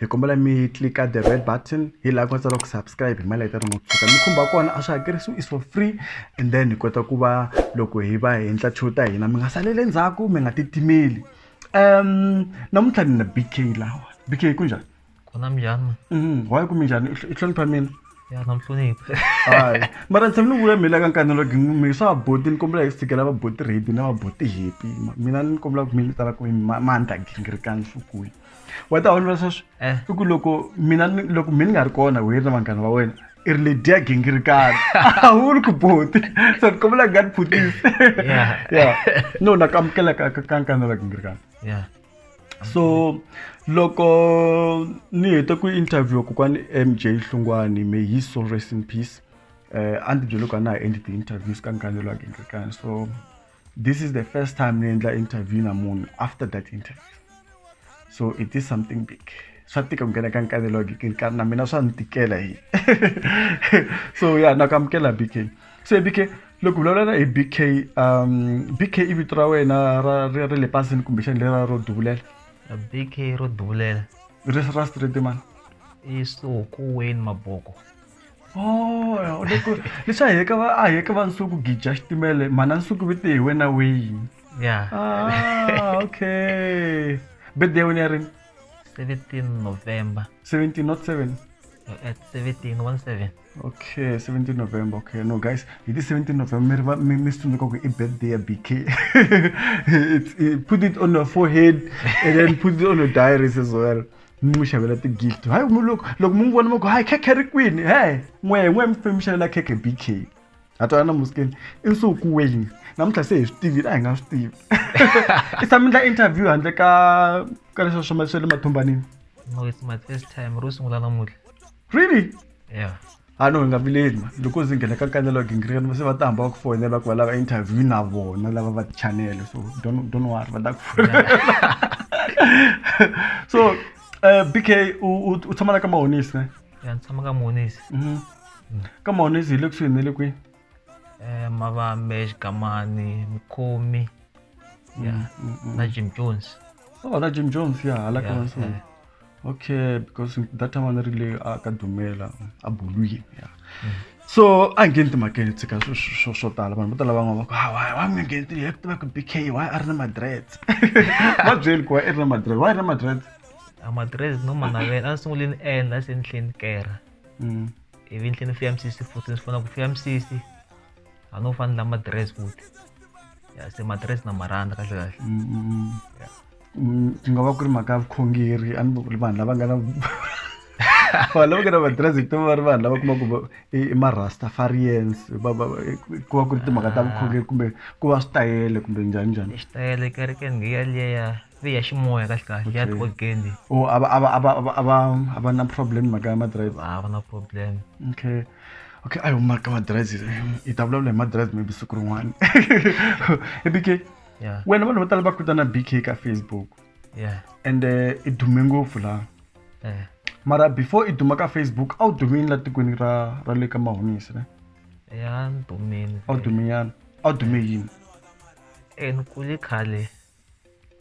hi kombela mi tlilika the red button hi laha ku nga tsariwa ku subscribe hi mali ya tani mo tshuka mi khumba kona a swi hakerisiwi is for free and then hi kota ku va loko hi va hi endla show ta hina mi nga saleli endzhaku mi nga titimeli um namuntlha ni na b k lawa b k ku njhani kona minjhani Mhm, why ku mi njhani U hl- u hlonipha mina ya na muhloniphi hayi mara ni tshame ni vula mhela ka nkani loko mi swa vaboti ni kombela hi tshikela vaboti redi na vaboti hepi mina ni kombela ku mi ni tala ku mi ma- mandla gingirikani nhlokweni wa ta olova sweswi eh. i ku loko mina loko mi ni nga ri kona wena na vanghana va wena i ri ledi ya gingirikana a wu ri ku boti so ni kombela nga ni phutisi ya no na kamukela ka ka nkana la gingirikana so loko ni hete ku interview kokwani m j hlungwani may his soul rest in peace um a ndzi byele ku a na ha endli ti-interviews ka nkanelo wa gingirikana so This is the first time ni endla interview na munhu after that interview. So it is something big. swa tika ku nghena ka nkanelo ka na mina swa ni tikela hi so ya na ku amukela bk so bk loko vulavula hi bk um bk i vito ra wena ra ra le pasini kumbexani lera ro duvulela bk ro duvulela ri ra street man i suku wayne maboko Oh, loko leswi a heka va a heka va nsuku gija xitimele mhana nsuku vite hi wena wayini ya ah, okay birthday ya wena ya rini 17 november 17 not 7 at 17 17 okay 17 november okay no guys hi ti 17 november mi ri va- mi mi swi tsundzuka ku i birthday ya bk It's- i- put it on your forehead and then put it on your diaries as well mi n'wi xavela ti-gift hayi mi loko loko mi n'wi vona mi ku hayi khekhe ri kwini he n'wehe n'wehe mi fane mi xavela khekhe b k ha twana na muskeni i nsuku weyini namuntlha se hi swi tivile a hi nga swi tivi i tshame ndla interview handle ka ka leswa swa swa le mathumbanini no it's my first time ro sungula namuntlha really yeah a no hi nga vileli ma loko ndzi nghena ka kanelo wa gingirikani va se va ta hamba va ku foyinela ku va lava interview na vona lava va tichanele so don't don't worry va ta ku so uh, bk u tshama na ka mahonisi ne ya ni tshama ka mahonisi mhm. ka mahonisi hi le kusuhi ne le kwihi eh, mavambe xikamani mukhomi ya Mm, mm, mm. na jim jones oh na jim jones ya hala ka Yeah, maso yeah. okay because that time a ni ri le a ka dumela a bulwini ya so a ngheni timhakeni tshika swo- swo swo- swo tala vanhu vo tala van'wana va ku "Ah, why why mi nga ngheni tini tiva ku bk why a ri na madrets va byeli ku why i ri na madrets why i ri na madrets amadress no manavela a ni sungule ni endla se ni tlhela ni kera mm. ivi ni tlhela ni fika mi sixty futhi ni fona ku fika mi sixty a no fanela madiresi futhi ya se madiresi na maranda kahle kahle mm, mm, mm. ya mm, ku nga va ku ri mhaka ya vukhongeri a ni va ku ri vanhu lava nga na vanhu lava nga na madiresi hi va ri vanhu lava kuma ku i marastafarians ku va ku ri timhaka ta vukhongeri kumbe ku va switayele kumbe njhani njhani xitayele kerekeni ngiya liya ya ximoya kahle kahle ya Okay. tiorgan leyi or a va a va a va a va- a va a va na problem mhaka ya madrive a va na problem okay okay ayo mhaka madrive hi ta vulavula hi madrive maybe siku rin'wana i bk ya wena vanhu vo tala va kutana bk ka facebook ya and eh, i dume ngopfu laha eh mara before i duma ka facebook a wu dumini la tikweni ra ra le ka mahonisi ne ya ndumeni a wu duminyana a wu dume yini eh ni kule khale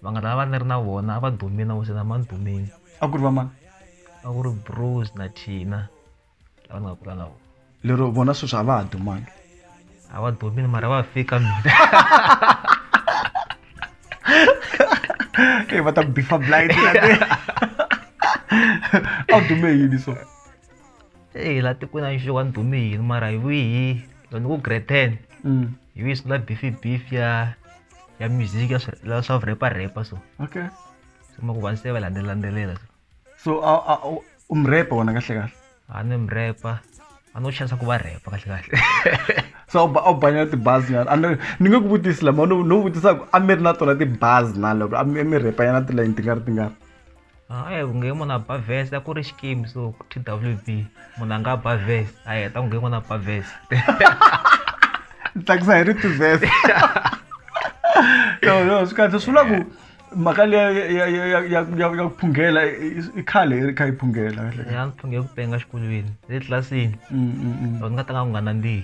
vanghana lava ni ri na vona a va dumi na wesena mani dumini a ku ri va mani a ku ri bruce na thina lava ni nga kula na vona lero vona sweswi a va ha dumangi a va dumini mara va fika mina e va ta bifa blind a wu dume yini so eyi la tikweni a nxo wa ni dume yini mara hi wihi loko ni ku grade ten mm. hi wihi swi la bifi bifi ya ya music ya swa swa repa repa so okay so ma ku va se va landzelela landzelela so a a u mrepa wona kahle kahle a ni mrepa a no chance ku va repa kahle kahle so a wu banya tibazi nyana a ni nge ku vutisi lama no no vutisa ku a mi ri na tona tibazi na loko a mi repa yana tilayini ti nga ri ti nga ri hayi ku nge munhu a ba vest a ku ri xikimu so ku twb munhu a nga ba vest a heta ku nge munhu a ba vest tsakisa hi rito vest no no swi kahle swi vula ku mhaka leya ya ku phunghela i khale i ri kha yi phunghela ya ni phunghe ku penga xikolweni le tlilasini loko ni nga tanga ku nga nandzihi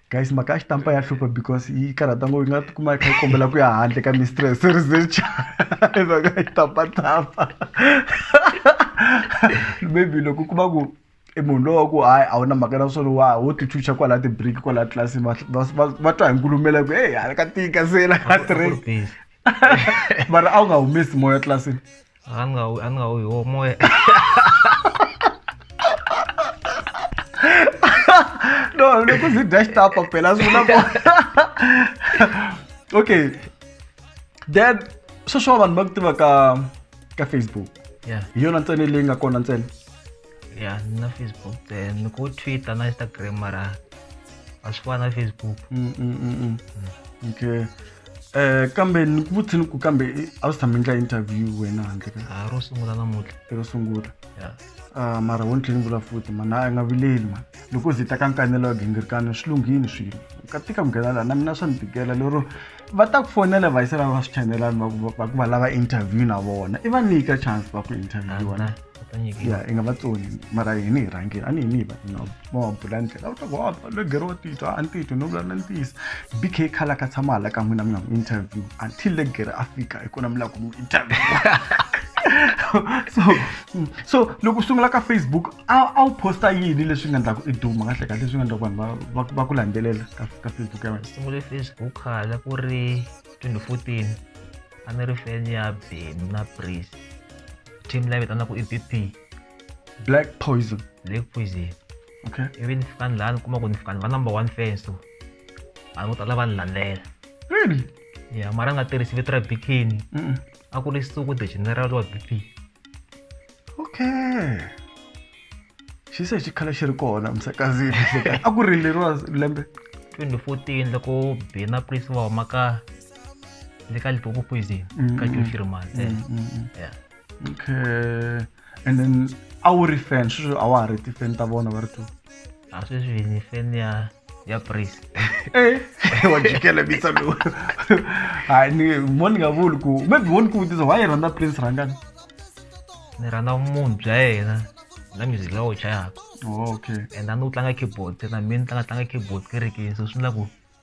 guys maka a xi tampa ya hlupha because yi karhata ngo yi nga tikuma yi kha yi kombela ku ya handle ka mistress research hi mhaka yi tampatapa maybe loko u kuma ku i munhu lowa ku hayi a wu na mhaka na swona wa wo tichucha kwala ti-break kwala tlasi va twa hi nkulumela ku heyi hala ka tika se la ka stress mara a wu nga humesi moya tlilasini An ka an ka o y'o mɔ ye no ne ko si dash ta pa pela zuna bo okay then social man magtiva ka ka facebook yeah yona ntsena leyi nga kona ntsena ya ni na facebook eh, ni ku twitter na instagram mara a swi fana na facebook Mm, mm, mm, mm. okay eh kambe ni ku vutsini ku kambe eh, a wu si tshame ndla interview wena handle ka a ro sungula namuntlha ero sungula ya Ah, mara wo ni tlhela ni vula futhi mani a nga vileli mani loko zita ka nkanelo wa gingirikano swi lunghini swilo ka tika ku nghena laha na mina swa ni tikela lero va ta ku fonela va yisela va swi chanelani va ku- va ku va lava interview na vona i va nyika chance va ku interviewa na ya i nga va tsoni mara hini hi rhangile a ni hini hi va na va bula ndlela u ta ku hava le gero wa titwa a ni titwi no vulavula ni ntiyiso b k khala ka tshama hala ka n'wina mi nga n'wi interview until le gere a fika hi kona mi lava ku n'wi interview so so loko u sungula ka facebook a a wu posta yini leswi nga endlaku i duma kahle kahle leswi nga endlaku vanhu va- va va ku landzelela ka ka facebook ya wena sungule facebook hala ku ri 2014 a ni ri fan ya beni na pris team leyi vitana ku i bp black poison black poison okay ivi ni fika ni laha ni kuma ku ni fika ni va number one fan so vanhu vo tala va ni landela really ya mara nga tirhisi vito ra bikini a ku ri suku the general wa bp okay xi se xi khale xi ri kona msakazini a ku ri leriwa lembe 2014 loko bina prince va huma ka le ka litopo poison mm, ka mm, joshi rimanse mm, okay and then a wu ri fan sweswo a wa ha ri ti-fan ta vona va ri two aswiswini feni ya ya pris eh. wa jikela bisa lowu hayi ni mo ni nga vuli ku maybe wo ni ku vutisa why i rhandza prince rhangani ni rhandza munhu bya yena na music lawa wu chayaka oh, okay and a ni wu tlanga keyboard na mina ni tlanga tlanga keyboard kerekeni so swi endla ku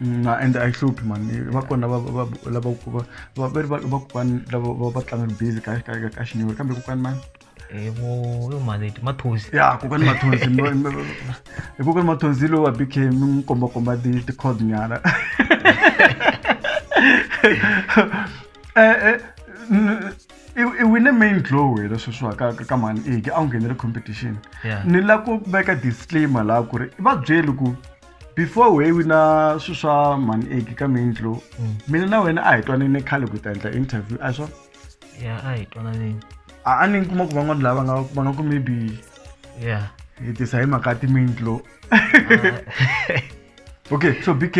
na ende a yi hluphi mani va kona vakokwani lava va tlangaka bizi ka xinyori kambe kokwani mani maleti mathonsi ya kokwani mathonsi hi kokwani mathonsi lowa b k mi n'wi kombakomba ti-cod nyana i wine main glow wena sweswiwa ka ka mani eke a wu nghenele competition ni lava ku veka disclaimer laha ku ri va byeli ku before we wina swilo swa mani eki ka mintlo mm. mina na wena a hi twanene khale ku ta endla interview a swa ya a hi twananeni a a ni kuma ku van'wana lava nga va nga ku maybe ya hi tisa hi mhaka timintlo okay so bk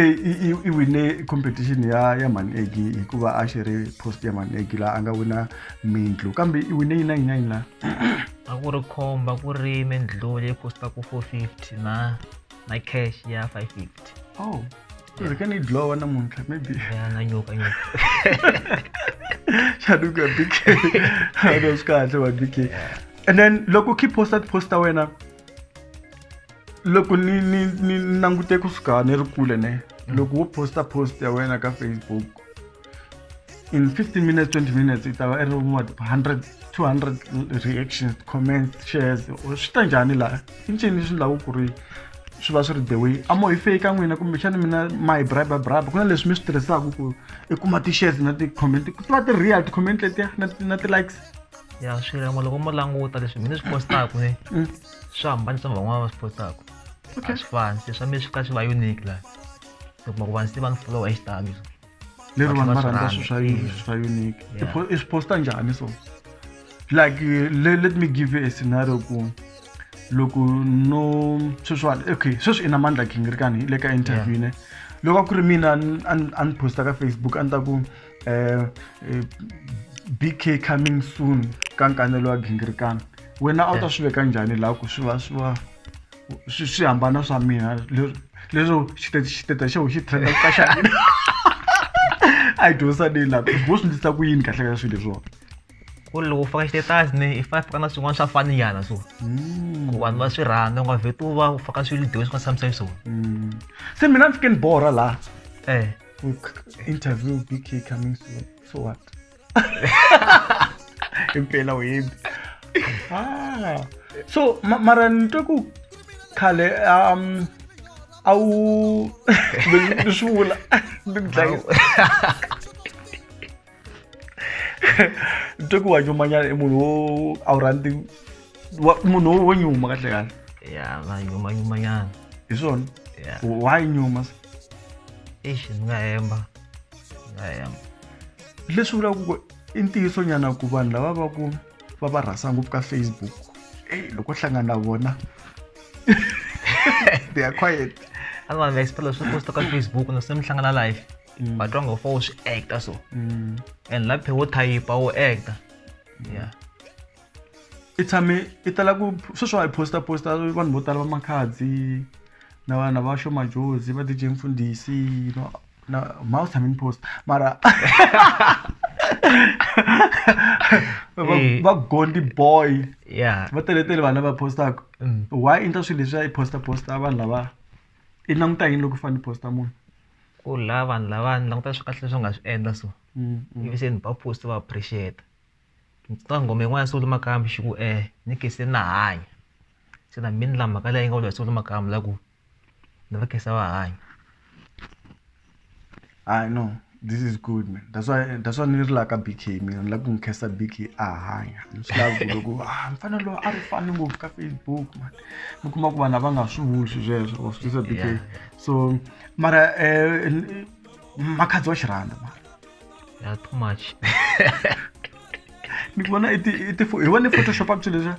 i wine competition ya ya mani eki hikuva a xi ri post ya mani eki laha a nga wina mintlo kambe i wine yina yina yina a ku ri khomba ku ri mindluli yi costa ku four fifty na my cash ya 550 oh ndzi ka ni dlowa namuntlha maybe ya na nyuka nyuka xanuka bk no swi kahle wa bk and then loko keep posta posta wena loko ni ni ni langute kusuka ni ri kule ne loko wo posta post ya wena ka facebook in 15 minutes 20 minutes it's our every what 100 200 reactions comments shares swi ta njhani laha i ncini swi laku ku ri swi va swi ri the way a mo hi fake ka n'wina kumbexana mina ma hi bribe bribe ku na leswi mi swi tirhisaka ku i kuma ti-shares na ti-comment ku tiva ti-real ti-comment letiya na na ti-likes ya swi rin'we loko mo languta leswi mina swi postaku ne mm. swi hambani swa van'wana va swi postaku a swi fani se swa mina swi ka swi va unique laha loko ma ku vanhu se va ni followa hi xitalo lero vanhu va rhandza swilo swa mm. swa unique i swi posta njhani so like le, let me give you a scenario ku loko no sweswiwani okay sweswi i na mandla ghingirikani le ka interview ne loko a ku ri mina a ni posta ka facebook a ni ta ku um eh, eh, bk coming soon ka nkanelo wa ghingirikani wena a wu ta swi veka njhani laha ku swi va swi va swi swi hambana swa mina leswo xitete xitete xo xi trenda ka xa mina a yi dyondzisa leyi laha vo swi ndlisa ku yini kahle ka swilo leswiwani ku ri loko u faka xitetasi ni i fane faka na swin'wana swa faniyana so hmm. ku vanhu va swi rhandza nga vheti u va u faka swilo dyiwe swi nga tshamisa hi swona hmm. se mina ni fike ni borha laha eh interview bk coming soon so what impela uyimbi ah so ma- mara ni twe ku khale um a wu ni swi vula ni ku dlayisa ni twe ku wa nyumanyana i munhu wo a wu rhandzi wa- munhu wo- wo nyuma kahle kahle ya va nyuma nyuma nyana hi swona ya why nyuma eish ni nga hemba leswi vulaka ku i ntiyiso nyana ku vanhu lava va ku va va rhasa ngopfu ka facebook ey loko hlangana na vona they are quiet a vanhu va xipela swi posta ka facebook no se mi hlangana live mm. va twa ngo fo swi acta so mm. and la phe wo thayipa wo acta yeah i tshame i tala ku sweswi wa hi posta posta vanhu vo tala va makhadzi na vana va shomajozi va dj mfundhisi na mouse tshame ni post mara va- Eh. va gondi boy yeah va teletele vanhu lava postaka Mm. why i ndla swilo leswi a yi posta posta vanhu lava i languta yini loko u fanele posta munhu ku la vanhu lava ni languta swi kahle leswi u nga swi endla so Mm, mm. ivi se ni ba post va appreciate ka ngoma yin'wana ya solo makambi xi ku eh ni ke se na hanya se na mina la mhaka leyi nga vula solo makambi la ku ni va khensa va hanya I know this is good man that's why that's why ni ri la ka BK mina ni la ku n'wi khensa BK a hanya ni swi lavi ku loko ah mfana loyi a ri fani ngopfu ka Facebook man mi kuma ku vanhu a va nga swi vuli swi sweswo wa swi tisa BK Yeah. so mara eh, n- makhadzi wa xirhanda mara ya too much ni vona i ti- i ti- hi vone photoshop a ku swilo leswiya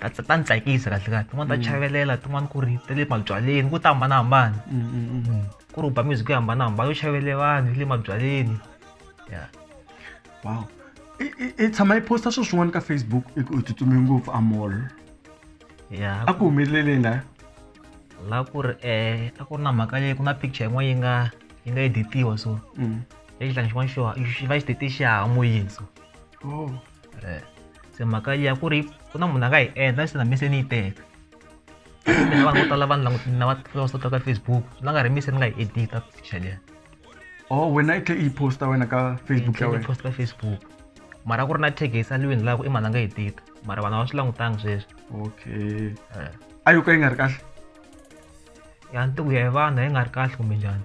ta ta ta ni tsakisa kahle kahle tin'wana ta chavelela tin'wana ku ri ta le mabyaleni ku ta hambanahambana ku ri u ba music yo hambanahambana yo chavele vanhu yi le mabyaleni ya wow i tshama yi posta swilo swin'wana ka facebook i ku tsutsume ngopfu amol ya a ku humeleleni la la ku ri um a ku ri na mhaka leyi ku na picture yin'wana yi nga yi nga editiwa so lexi tlanga xin'wana xo xi va xi tete xihahamoyini so oh eh, se mhaka ya ku ri ku na munhu a nga yi endla ni sina mise ni yi teka ni nga vanhu vo tala vanhu langutini na va sota ka facebook swi nga nga ri mise ni nga yi edita picture leyi oh wena i tlhe i posta wena ka facebook ya wena posta ka facebook mara ku ri na tag yi saliweni laha ku i mhana nga yi tita mara vanhu va swi langutanga sweswi okay eh. a yo ka yi nga ri kahle ya ntiku ya hi vanhu yi nga ri kahle kumbe njhani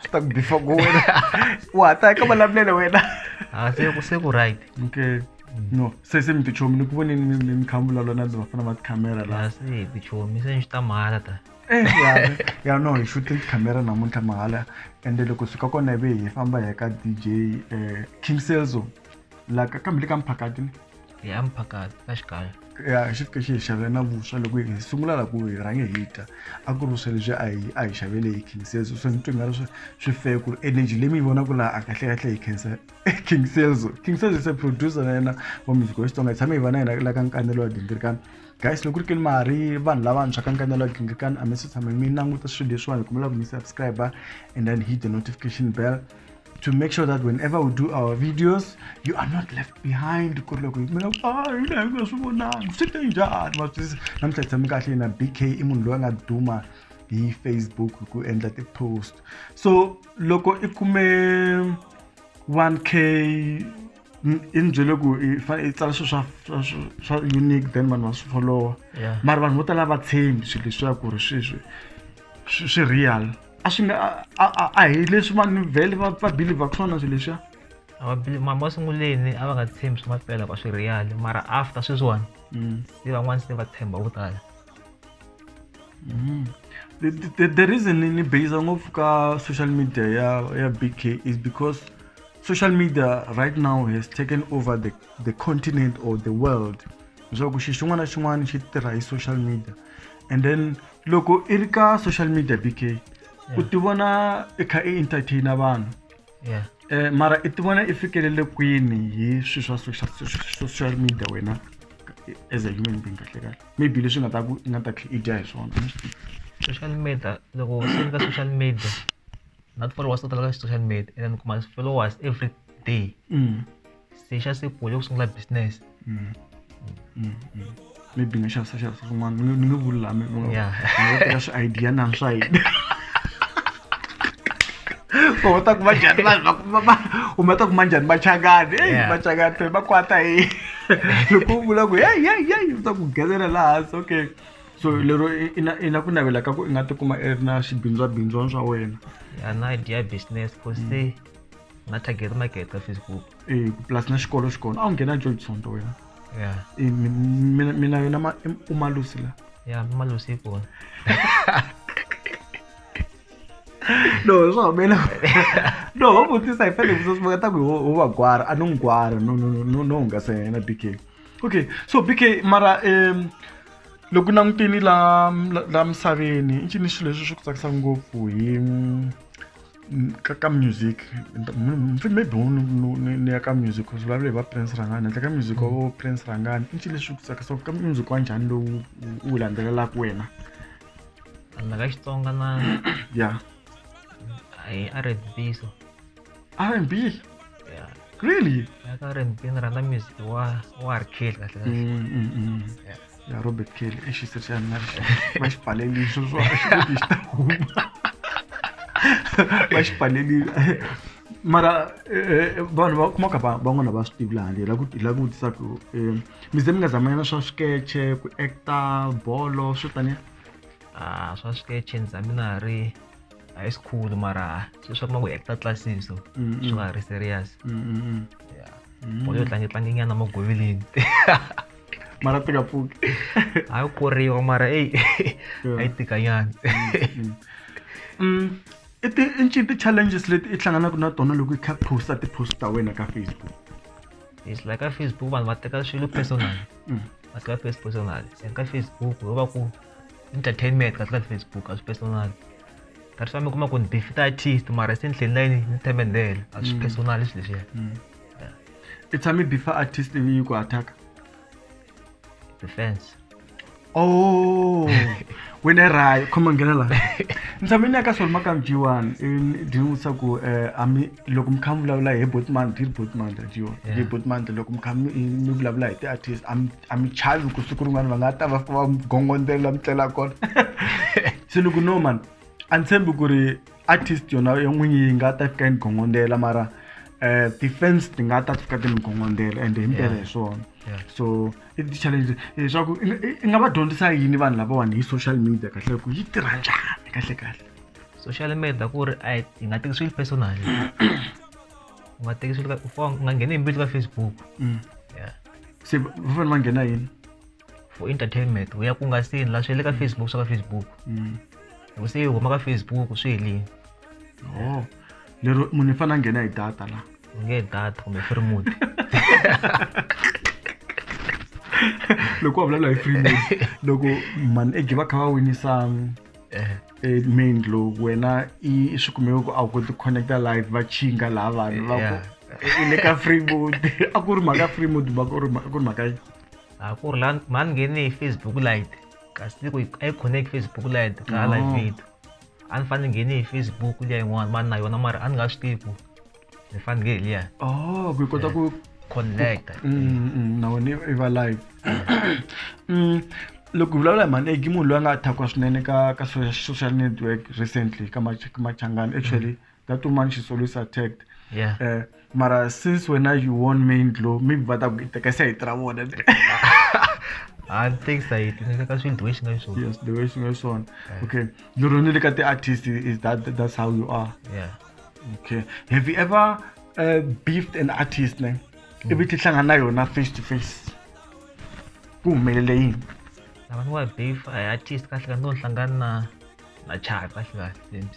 Swi ta ku bifa ku wena u hata eka malamulelo wena Ah, se ku se ku right okay no se se mi tichomi ni ku voneni mi- mi mi kha mi vulavula na ndzi va fana va tikhamera la la se hi tichomi se ni swi ta mahala ta Eh, ya ya no hi shooting tikhamera namuntlha mahala ende loko suka kona ivi hi famba hi ya ka dj um king selzo la ka kambe le ka mphakati ni hi ya mphakati ka xikaya ya xi fike xi hi xavela na vuswa loko hi sungula la ku hi rhange hi ta a ku ri vuswa lebyi a hi a hi xavele hi king sales swi ni twi nga ri swi swi fair ku ri energy leyi mi yi vonaka laha a kahle kahle hi khensa king sales king sales is a producer na yena wa music wa xitsonga hi tshame hi va na yena la ka nkanelo wa gingirikani guys loko ri keli ma ha ri vanhu lavantshwa ka nkanelo wa gingirikani a mi se tshame mi languta swilo leswiwani hi kombela ku mi subscribe and then hit the notification bell to make sure that whenever we do our videos you are not left behind ku ri loko hi kumela ku a yini a hi nga swi vonangi swi te njhani ma swi twisisa namuntlha hi tshame kahle yena bk i munhu loyi a nga duma hi facebook hi ku endla ti-post so loko i kume 1k i ni byele ku i fanele i tsala swilo swa swa swa- swa unique then vanhu va swi followa Yeah. mara vanhu vo tala va tshembi swilo leswiya ku ri sweswi swi swi real a swi nga a a a hi leswi vanhu vhele va va believe ku swona swilo leswiya masunguleni a va nga tshembi swa mampela va swi real mara after sweswiwani mm. se van'wana se va tshemba vo tala mm. the, the, the reason ni base ngopfu ka social media ya ya bk is because social media right now has taken over the, the continent or the world leswaku xi xin'wana na xin'wana xi tirha hi social media and then loko i ri ka social media bk u ti vona i kha i entertaina vanhu yeah um mara i ti vona i fikelele kwini hi swilo swa social social media wena as a human being kahle kahle maybe leswi nga ta ku i nga ta tlhe i dya hi swona social media loko se ni ka social media na ti-followers to tala ka social media and then kuma followers every day mm. se xa se pole ku sungula business mm. Mm, mm. maybe nga xavisa xavisa swin'wana ni nge vuli laha mi nga teka swi idea na swa yini u ta kuma njhani vanhu va u ma ta kuma njhani machangani eyi machangani fe va kwata hi loko u vula ku yeyi yeyi yeyi u ta ku gezela laha hansi okay so lero i na i na ku navela ka ku i nga tikuma i ri na swibindzwabindzwana swa wena ya na idea business ku se mm. na target market ka facebook eh plus na xikolo xi kona a wu nghena joli tsonto wena ya Eh, mi- mi- mina mina yona ma- em- umalusi la ya malusi yi kona no swi hambela no ho vutisa hi fanele vutisa swi ta ku ho ho va gwara a no n'wi gwara no no no- no no hungasa hi yena bk okay so bk mara um loko langutini la la- la misaveni i ncini xilo leswi swi ku tsakisa ngopfu hi ka ka music mfi maybe u ni ya ka music u vulavula hi va prince rhangani handle ka music wa vo prince rhangani i ncini leswi ku tsakisaka ka music wa njhani lowu u wu landzelelaka wena handla ka xitsonga na ya hi r n b so r n b ya really ya ka r n b ni rhandza music wa wa harkeli kahle kahle Ja Robert Keel, is is er zijn maar maar spallen die zo zo is maar spallen die mara vanhu vakumaka van'wana va swi tivi laha ndlela yi lava ku vutisa ku mi ze mi nga zamanyana swa swikeche ku acta bolo swo taniya a swa swikeche ni za mina ha ri high school mara swi swa kuma ku acta classes so swi nga ha ri serious bolo yo tlangetlangenyana magoveleni mara tikapuki ayo kuriwa mara eyi ayi tikanyana Mm, i ti i ncini ti-challenges leti i hlanganaka na tona loko i kha posta ti-post ta wena ka facebook it's like ka facebook vanhu va teka swilo personal Mm. va teka face personal and ka facebook yo va ku entertainment kasi ka facebook a swi personal kasi va mi kuma ku ni bifita artist mara se ni tlheli na yini ni themendele a swi personal swilo leswiya i tshami before artist yi ku attack defense oh wena rayo khoma nghena la ni tshame ni ya ka swona makam g one ndi ni vutisa ku eh, ami loko mi kha mi vulavula hi botmant hi ri botmant g one hi Yeah. botmant loko mi kha mi mi vulavula hi ti-artist ami ami chavi ku siku rin'wana va nga ta va va mi gongondzela mi tlela kona se ni ku no man a ni tshembi ku ri artist yona yo n'winyi yi nga ta fika yi ni gongondela mara um ti-fans ti nga ta fika ti ni gongondela ende himpela hi swona so i ti-challenge leswaku i nga va dyondzisa yini vanhu lavawani hi social media kahle ku yi tirha njhani kahle kahle social media ku ri a yi nga teki swilo personal u nga teki swilo u nga ngheni hi mbilu ka facebook mm. se va fanele va nghena yini for entertainment u ya ku nga sini la swi le ka facebook swa ka facebook mm. loko se yi huma ka facebook swi helini oh. lero munhu i fanele a nghena hi data la u nge data kumbe free mode loko wa vulavula hi free mode loko mani ege va kha va winisa eh. eh, main lo wena i swi kumeka ku a wu koti connecta live va chinga laha vanhu va ku i le ka free mode a ku ri mhaka free mode va ku ri mhaka a ku ri la mhani ngheni hi facebook light kasi ni ku a yi connect facebook light ka hala oh. video a ni fanele ngheni hi facebook liya yin'wana mani na yona mara a ni nga swi tivi ku ni fanele hi liya oh ku yi kota ku connect mm, mm, mm, na wena i va live loko hi vulavula hi mhani egi munhu loyi a nga athakwa swinene ka ka social network recently ka machangani actually mm -hmm. that woman she's always attacked yeah. uh, mara since wena you won main glow maybe va ta ku itekesa hi tira vona hayi thanks ayi tinekaka swilo the way xi nga xiswona yes the way xi nga xiswona okay lero ni le ka ti-artist is that that's how you are yeah okay have you ever uh, beefed an artist ne mm. ivi tihlangana na yona face to face ku humelele yini lava ni wa beef artist kahle ka no hlangana na na chaka kahle kahle mc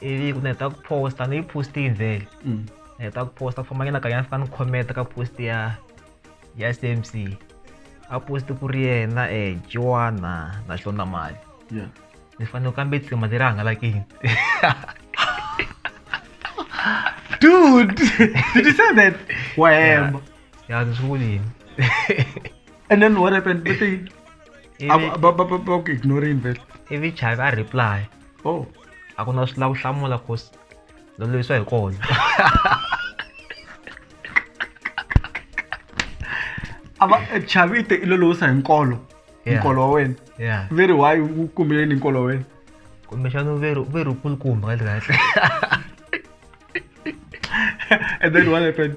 ivi ku ni heta ku posta ni yi posti yi vhele mm. ni heta ku posta ku famba nyana kanyana fika ni khometa ka posti ya ya c m c a posti ku ri yena um eh, joana na xona mali ni fanele kambe tsima leri hangalakini dude did you say that wahemba ya ni swi vulini and then what happened but they ba ku ignore invest ivi chavi a reply oh a ku na swi lava ku hlamula cause lo lwisa hi kona a va e, chavite i lo lowisa hi nkolo nkolo wa wena veri why wu kumbeleni nkolo wa wena kumbexana veri veri kulukumba kahle kahle and then what happened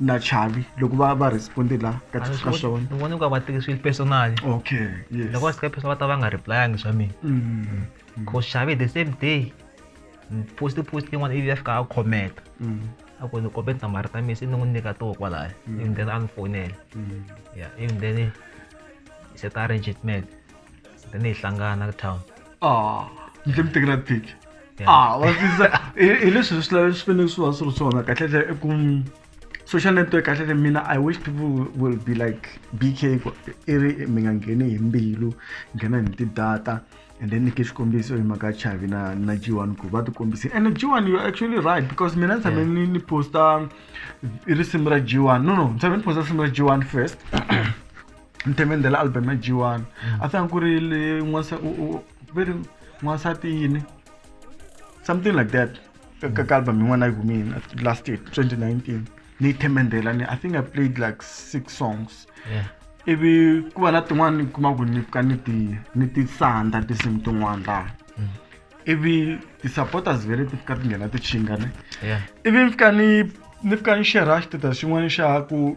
na chavi loko va va responde la ka A ni swi ka voni- swona ni voni ku va va teke swi personal okay yes loko va sika personal va ta va nga replyangi swa mina Mm, cause xavi the same day ni poste post yin'wana ivi ya fika a khometa mm, a ku ni kombe tinambara ta mina se ni n'wi nyika toho kwalaya even then a ni fonela mm. ya even then hi seta arrangement then hi hlangana ka town Aa, yile muteki na pic a wa swisa hi leswi swi lavi swi fanele swi va swi ri swona kahlekahle i ku social network kahlekahle mina i wish people will be like bk i ri mi nga ngheni hi mbilu nghena hi ti-data and then nyike xikombiso hi mhaka chavi na na g one ku va ti kombisini and g one you're actually right because mina ni tshame ni ni posta risimu ra g one no no ni tshame ni posta risimu ra g one first Ntemende la album ya G1 a sanga ku ri le n'wansa u u ve ri n'wansati yini something like that ka ka- ka album yin'wana yi humile last year 2019 ni yi themendela ni I think I played like six songs Yeah. ivi ku va na tin'wana ni kuma ku ni pfuka ni ti ni ti sanda tinsimu tin'wana laha ivi ti-supporters vele ti fika ti nghena ti chingane Yeah. ivi ni fika ni ni fika ni share status xin'wana xa ku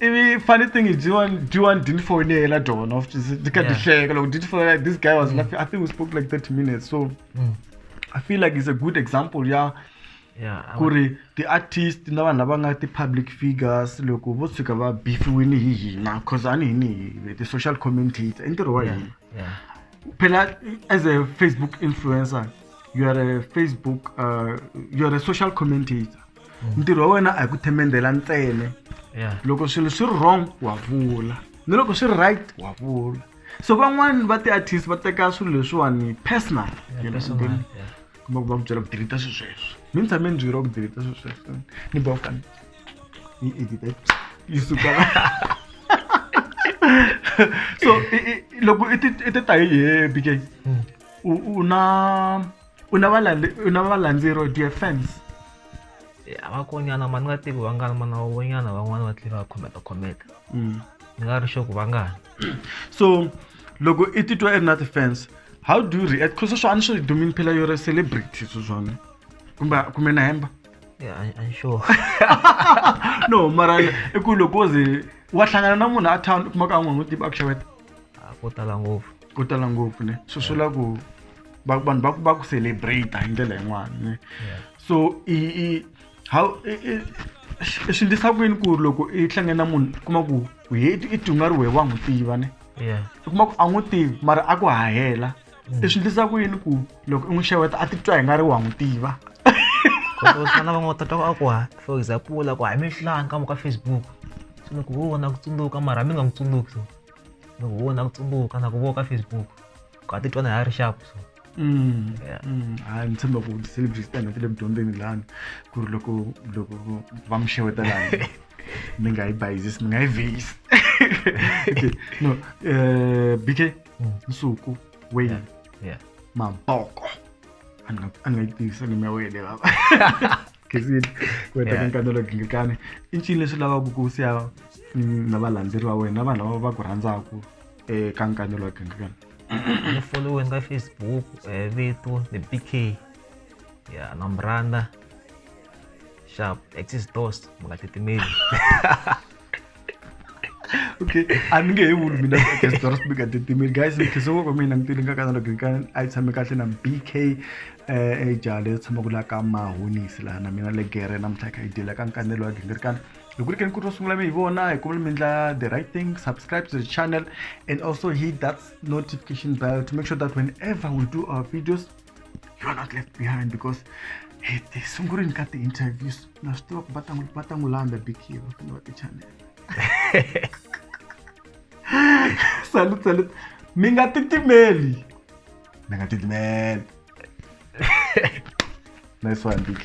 ivi funny thing is do you want do you want didn't phone yena dona of ndikadihleka loko didn't phone like this guy was mm. laughing i think we spoke like 30 minutes so mm. i feel like it's a good example ya yeah, ku ri ti-artist na vanhu lava nga ti-public figures loko vo tshuka va bifiwile hi hina cause a ni hi ni ti-social commentator i ntirho wa hina phela as a facebook influencer you are a facebook uh, you are a social commentator ntirho wa wena a hi ku themendela ntsene Yeah. loko swilo swi ri wrong wa vula ni loko swi ri right wa vula so van'wani va ti-artist va teka swilo leswiwani personal you know, Personal, then yeah. kuma ku va ku byela ku deleta swilo sweswo mi ni tshame ni byeriwa ku deleta swilo sweswo ni ba kani yi edita yi suka la so i- i- loko i ti- i ti ta hi he bk u u na u na u na valandzeri or do you have fans eh, a va konyana mani nga tivi vangani mana va vonyana van'wana va tlhela va khometa khometa mm. ni nga ri xoku vangani so loko i titwa i ri na ti-fans how do you react because swo a ni swi dumini phela yo ri celebrity swo swona kumbe kumbe na hemba sure no mara i ku loko ze wa hlangana na munhu a town u kuma ka a n'wi n'wi tiba a ku xaveta a ko tala ngopfu ko tala ngopfu ne swi swi la ku vanhu va ku va ku celebrate hi ndlela yin'wana ne so i i how i swi ndlisa ku yini ku ri loko i hlange na munhu kuma ku heti i tunga ri wehe wa n'wi tiva ne i kuma ku a n'wi tivi mara a ku hahela mm. i swi ndlisa ku yini ku loko i n'wi xeweta a titwa hi nga ri wa n'wi tiva kotosana va n'wi tata a ku ha for example a ku ha mi hlanga ka muka facebook swi ku wo na ku tsundzuka mara mi nga n'wi tsundzuki no ku vona ku tsumbuka na ku vona ka facebook ku a titwa na ha ri xapu so Mm, Yeah. mm. hayi ni tshemba ku ti-celebrities ta hina ti le vudyondzeni lani ku ri loko loko va mi xeweta lani mi nga yi bayizisi mi nga yi vheyisi Okay, no eh, bk Mm. nsuku wayne Yeah. yeah maboko a ni nga- a ni nga yi tivisa nimi ya wena lava gisini wena ka nkano lo gingikani i ncini leswi lavaka ku siya na valandzeri va wena na vanhu lava va ku rhandzaka eka nkano lo gingikani ni foliweni ka facebook vito the bk ya na muranda sharp axis dos mu nga titimeli okay a ni nge he vuli mina gestora sibika titimile guys mikhiso wo mina ni tilinga kana loko ka a yi tshame kahle na bk eh ejale yo tshama ku la ka mahonisi laha na mina le gere namuntlha kha yi dila ka nkanelo wa gingirikana loko ri ke ni ku ri ro sungula mi hi vona hi kumele mi endla the right thing subscribe to the channel and also hit that notification bell to make sure that whenever we do our videos you are not left behind because hey, they sungurini ka the interviews na swi tiva ku va tangu- va ta n'wi landza bikiva kumbe va tichanela salut salut mi nga titimeli mi nga titimeli nice one bk